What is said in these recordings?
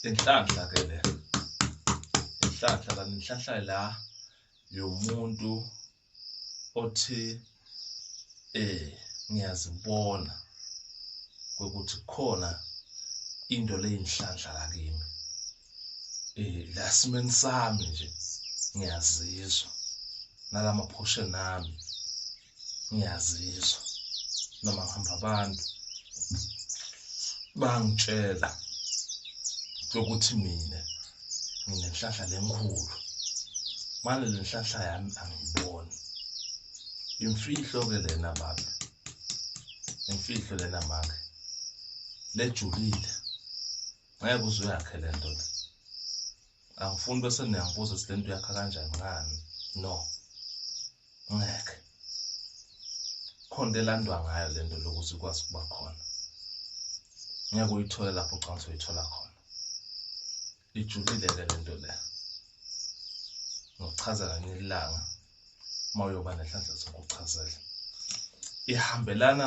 inhlanhla ke le inhlanhla kanti inhlanhla la yomuntu othi eh ngiyazibona ukuthi khona into leyinhlanhla la kimi eh la simeni sami nje ngiyazizwa nalama portion ami ngiyazizwa noma ngihamba abantu bangitshela ukuthi mina nginenhlahla lenkhulu manje le nhlahla yami angiyiboni imfihlo-ke lena baba imfihlo lena mama lejulile ngeke uze uyakhe le nto le angifuni bese niyangibuza ukuthi lento yakha kanjani ngani no ngeke khona into elandwa ngayo lento lokuthi ikwazi ukuba khona ngeke uyithole lapho ucanga ukuthi uyithola khona ijulile-ke le nto le ngokuchaza kanye ilanga uma uyoba nenhlanhla zokuchazela ihambelana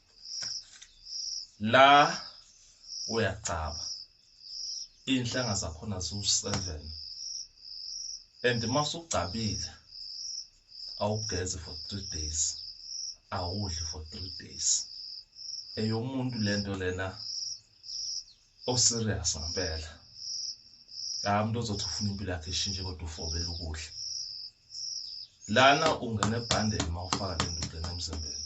la uyacaba iy'nhlanga zakhona ziwu-seven and uma usugcabile awugezi for three days awudli for three days eyomuntu lento lena o serious ngempela la umuntu ozothi ufuna impilo yakhe ishintshe kodwa ufobela ukudla lana ungena ebhandeni uma ufaka le ndoda emzimbeni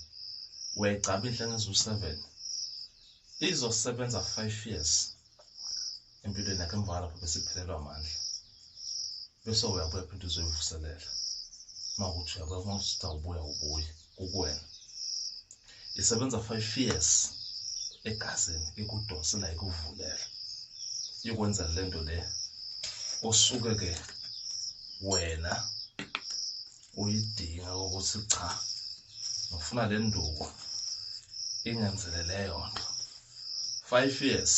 uyayigcaba inhle ngeziwu-seven izosebenza five years empilweni yakhe emva kwalapho bese iphelelwa amandla bese uyabuya phinde uzoyivuselela uma ukuthi uyabuya uma usuthi awubuya ubuye kukuwena isebenza 5 years egazini ikudonsela ikuvulela ikwenza le nto le osuke ke wena uyidinga ukuthi cha ngifuna le nduku ingenzele leyo nto five years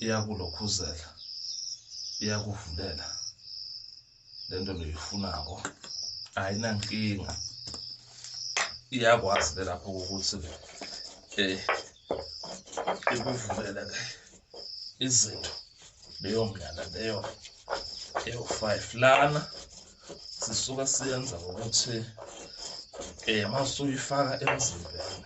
iyakulokhuzela iyakuvulela lento loyifunako ayinankinga iyakwazi ke lapho ukuthi um eh, ikuvulele ke izinto leyo mndlana leyo ewu-five lana sisuka siyenza ngokuthi um eh, masuyifaka emzimbeni